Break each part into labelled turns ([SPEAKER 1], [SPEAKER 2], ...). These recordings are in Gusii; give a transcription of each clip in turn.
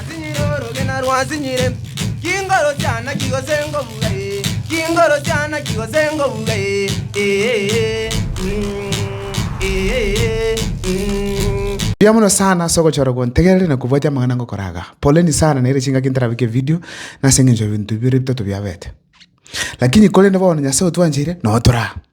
[SPEAKER 1] Sinyire orogena rwa sinyire, chingoro chiana chigose ngobuga ee, chingoro chiana chigose ngobuga ee, ee, mm, ee, mm. Mbuya mono sana ase ogochora okwo ntegerere na kobwatia amang'ana ngokora aga. Poleni sana nere chingaki ntarabeke video nase engencho ya ebinto bibere bitato biabete. Lakini korende bono Nyasae otwancheire, noo toraa.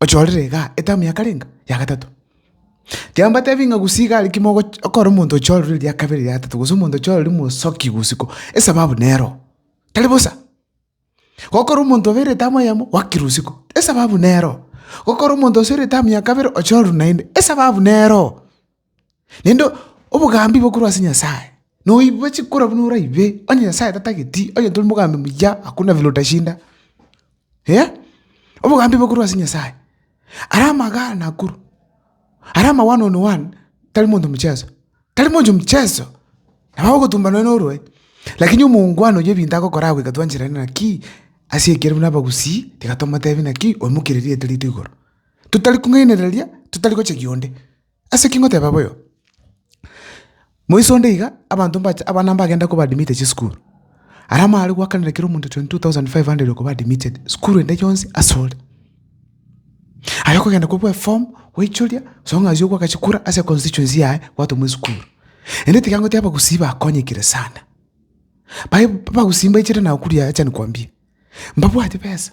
[SPEAKER 1] Ochorire iga, etamu ya kare enga? Ya gatato? Tiga mbatebi ng'a gusii iga arikimo ogoch- okore omonto ochorire eria kabere eria gatato gose omonto ochorire mosoki bosiko, esababu nero. Tari bosa? Gokora omonto obeire etamu eyemo, wakire osiko, esababu nero. Gokora omonto osoire etamu ya kabere, ochorwe naende, esababu nero. Naende obogambi bokorwa ase Nyasae, noibwa chikoro buna oraibe, onye Nyasae tatageti, onye tori mogambi muya, hakuna vile utashinda, eh, obogambi bokorwa ase Nyasae. Ara amagare nakorwa, ara ama one on one tari monto mcheso, tari monto mcheso, nabo agogotumba nonya norwae, lakini omounguano oyo ebinto agokora agoika twanchera ere naki, ase ekero buna abagusii, tiga tomotebia naki, oimokereria rieto rito igoro. Totari kong'ainereria, totari gochegia onde. Ase ki ngoteba boyo? Moiso onde iga abanto mbacha abana mbagenda koba admitted chisukuru, aria amare goakanera kera omonto 22,500 okoba admitted sukuru ende yonsi ase ore. Aye okogenda kobua eform, goichoria, gose ng'a aye ogoaka chikura ase constituency yaye gwatomwa esukuru. Ende tiga ngote abagusii bakonyekire sana. Baye abagusii mbaichire Nakuru yaya acha nikwambie, mbabwati besa,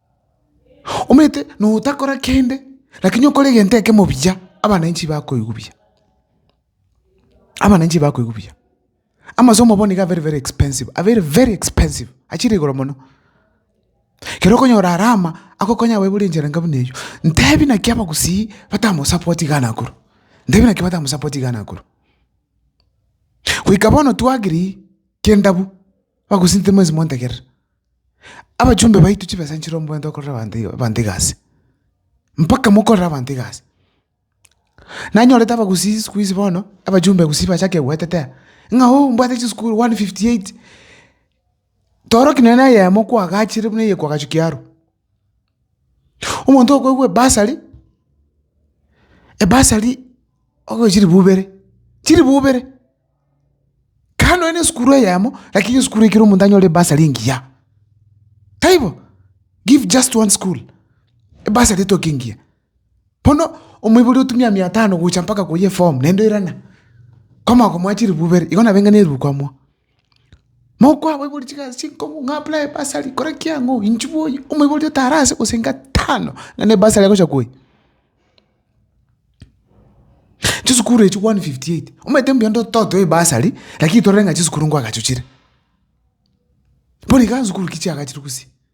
[SPEAKER 1] omanyete notakora kende lakini okore egento ekemo buya, abananchi bakoigwa buya, abananchi bakoigwa buya. Amasomo bono nigo a very very expensive, a very very expensive, achire igoro mono. Kero okonyora Rama agokonya abaibori buna enchera buna eywo, ntebi naki abagusii batamosapotii iga nakoro, ntebi naki batamosapotii iga nakoro. Goika bono twagiri kendabu. Bagosinta mwensi mwantegerera. Abachumbe baito chibesa nchirombwente gokorera abanto iga abanto egasi, mpaka mokorere abanto egasi. Nanyorete abagusii siku hizi bono, abachumbe gusii bachake goetete aa, ng'a oo mbwate chisukuru one fifty eight, toroki nonye neyemo kwagachire buna eye kwagachukia arwa. Omonto okoegwa ebasari, ebasari okoegwa chilifu ibere, chilifu ibere, kare nonye na esukuru eyemo, lakini esukuru ekero omonto anyore ebasari engiya, taibo? Give just one school ebasari etoke engiya. Bono omoibori otumia mia tano gocha mpaka koyia eform naende oirana, kwamanya komoa chilifu ibere, igo nabeng'a na erubu kwamwoa. Mokoaboiboria chigasi chinkongu ng'a buna ebasari kora ki ang'o inche bwoyi omoibori otare ase gose inga tano ng'a na ebasari agocha koyia. Chisukuru echio one fifty eight, omanyete mbuya ndo totoe ebasari lakini torore ng'a chisukuru nkoagachochire. Bono iga nsukuru ki chiagachire gose.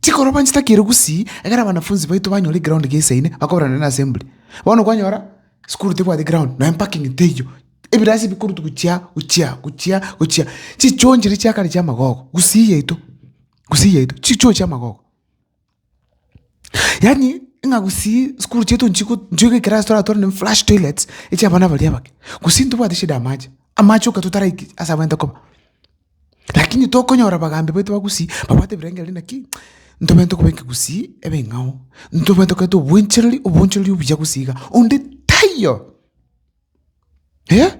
[SPEAKER 1] Chikoroba inche takire gusii, ekero abanafunsi baito banyora egraondi gesaine, bakoberana neasembli. Bono kwanyora, sukuru tebwati egraondi, nonya empakingi teiyo, ebirasi ebikurutu gochia, gochia, gochia, gochia. Chichoo nchiria chia kare chiamagogo, gusii yaito, gusii yaito, chichoo chiamagogo. Yaani, ng'a gusii sukuru chiaito nchigo nchigo ekerasi toratware ne flash toilets, echiabana baria abake. Gusii ntobwati shida y'amache, amache oka totaraiki ase abagaete koba. Rakini tokonyora abagambi baito ba Gusii babwate ebirengererio inaki, ntobwenerete tokobeka Gusii ebeng'ao, ntobwenerete tokoreta obwenchereri, obonchereri obuya Gusii iga, onde taiyo. Eh!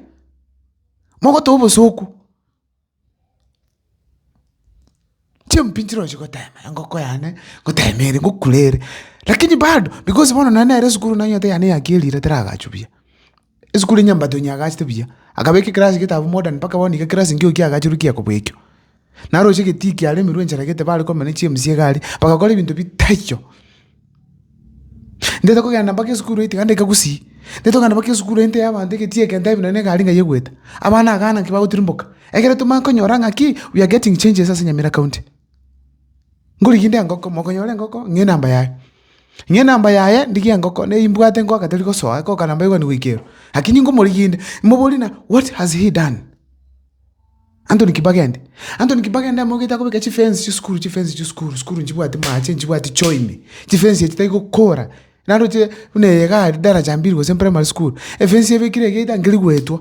[SPEAKER 1] Mogote obosoku, chimpi nchiroche gotema, engoko yane ngotema ere, ngokure ere, rakini bado, because bono nonye nere esukuru nonye egento yane yakerire teragachwa buya. Esukuru ya Nyambato nyagachete buya, akabeka ekerasi getabu modern mpaka bono iga ekerasi nkeiyo kiagachirwe kiya kobekio. Naroche egetii kiare emerwe enchara gete bare komenya ne chiemsi iga aria, bagakora ebinto bitaiyo. Ntaete kogenda mpaka esukuru eye tiga ndaika gusii, ntaete kogenda mpaka esukuru eye ntebee abanto egetii eke ntebi nonye na egari ng'ai egoeta. Abana agana nki bagotirimboka, ekero tomanye konyora ng'aki we are getting changes ase Nyamira county. Ngorigia inde engoko, mokonyora engoko, ng'ee namba yaye. Ng'ee namba yaye, ndigie engoko, ne imbwate ngoaka teri gosoa, ekoka namba egani goika ero. Lakini ngomorigia inde, moborie ng'a what has he done? Anthony Kibagende. Anthony Kibagende amogete akobeka chifence chia esukuru chifence chia esukuru, esukuru nchibwati maache, nchibwati choimi, chifence echi tari gokora. Naroche buna eye iga aria daraja mbili gose primary school, efence ebekire iga etangeri goetwa.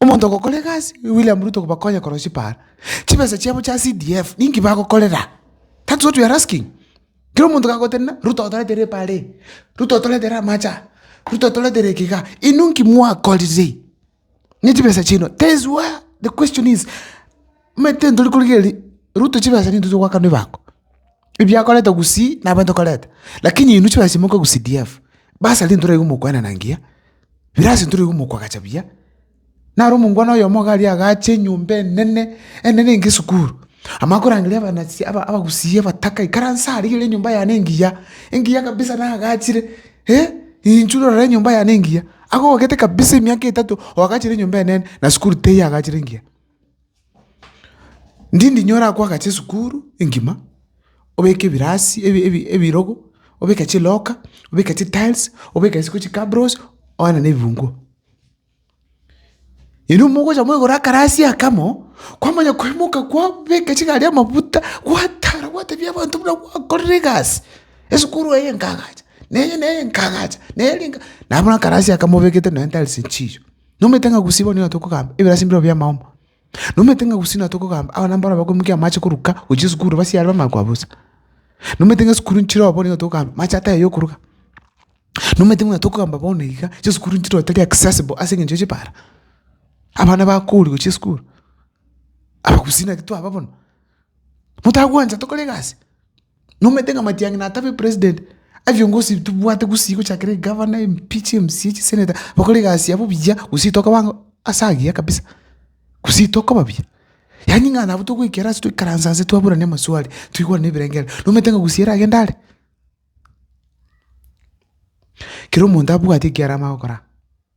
[SPEAKER 1] Omonto ogokora egasi William Ruto kobakonya korwa chipara, chibesa chiabo chia CDF ninki bagokorera? That's what we are asking. Kera omonto kagotenena Ruto otoretere epara eye, Ruto otoretere amache aya, Ruto otoretere eke igaa, inwe nki mwakorire ne chibesa chiaino? That is where the question is. Omanyete ntori korigereria Ruto chibesa nintwe togoakanwa ebango, ebiakorete gusii nabo ntokorete, lakini inwe chibesa echi moka gu CDF, bursary ntori aye komokwenana ngiya, ebirasi ntori aye komokoagacha buya, naro omongwana oyomo iga aria agache enyomba enene, enene enga esukuru, amanye korangeria abana si aba abagusii abataka ikaranse aria igere enyomba yane engiya, engiya kabisa nagachire eh, inchuo rora enyomba yane engiya, agogete kabisa emiaka etato oagachire enyomba enene na sukuru teiyo agachire engiya. Ndindi nyore akwagache esukuru engima, obeke ebirasi ebi ebi ebirogo, obeke chiloka, obeke chitiles, obeke isiko chikabros, oane na ebinguo. Erio mogocha moigoro akarasi akamo, kwamanya koimoka kwabeka chigari amafuta, gwatara gwatebi abanto buna gwakorire egasi, esukuru eye nkaagacha, neye neye nkaagacha, neri nka. Nabuna akarasi aka mobekete nonya tiles chiicho. Nomanyete ng'a gusii bono nigo tokogamba ebirasi mbirobio bi'amaomo? Nomanyete ng'a gusii natokogamba abana mbaro bakomokia amache koruka gochia esukuru basiare bamanye koa bosa? Nomanyete ng'a esukuru nchiroo bono nigo tokogamba mache atahe yokoruga? Nomanyete buna tokogamba bono iga chisukuru nchiroo tari accessible ase eng'encho ya chibara? Abana bakoorwa gochia esukuru? Abagusii naki twaba bono? Motagwancha tokore egasi? Nomanyete ng'a matiang'i natabe president, ebiongosi tobwate gusii gochakera egavana, MP, chiMCA, chisenator, bakore egasi yabo buya, gusii tokaba ang'o ase agiya kabisa, gusii tokoba buya. Yaani ng'a nabo togoikera ase toikaranse ase twaburane amaswali, toigwane ebirengererio, nomanyete ng'a gusii eragende are? Kera omonto abwate ekiarama gokora.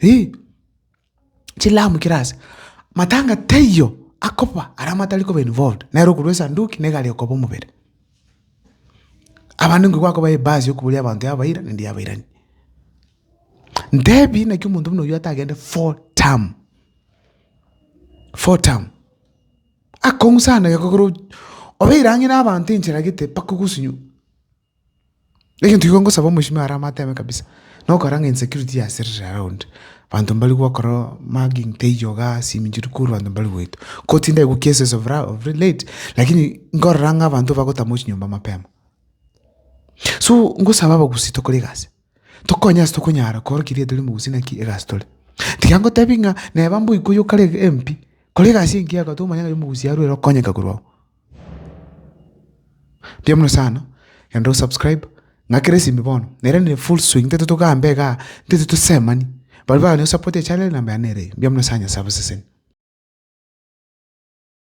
[SPEAKER 1] Ih, chilamu chire ase. Matanga taiyo akoba aria matari koba involved, nere okorwa esanduki nigo aria okoba omobere. Abanto nigo bakoba ebasi yokoboria abanto yabaira naende yabairani. Ntebi naki omonto buna oyio atagende four term, four term. Akong'u sana ekero obeire ang'e na abanto enchera gete mpaka ogosunywa. Egento igo ngosaba omochie are amatebe kabisa, nokora ng'a insecurity yaserire around, abanto mbari gokora mugging teiyo iga ase eminto eria korwa abanto mbari goetwa. Ko tindari gwa cases of late, lakini nkorora ng'a abanto bagotama chinyomba mapema. So ngosaba abagusii tokore egasi, tokonye ase tokonyara kora ekiagera tore mogusii naki egasi tore. Tiga ngotebi ng'a neba mboikwa oyo kare MP, kora egasi engiya oko tomanya ng'a omogusii arure ere okonyeka korwa oo. Mbuya mono sana, genda osubscribe, ng'akera esimi bono, nere nere full swing, ntete togamba igaa, ntete tosemani, baria bagane gosapota echannel namba yane nere eye. Mbuya mono sana Nyasae abaseseni.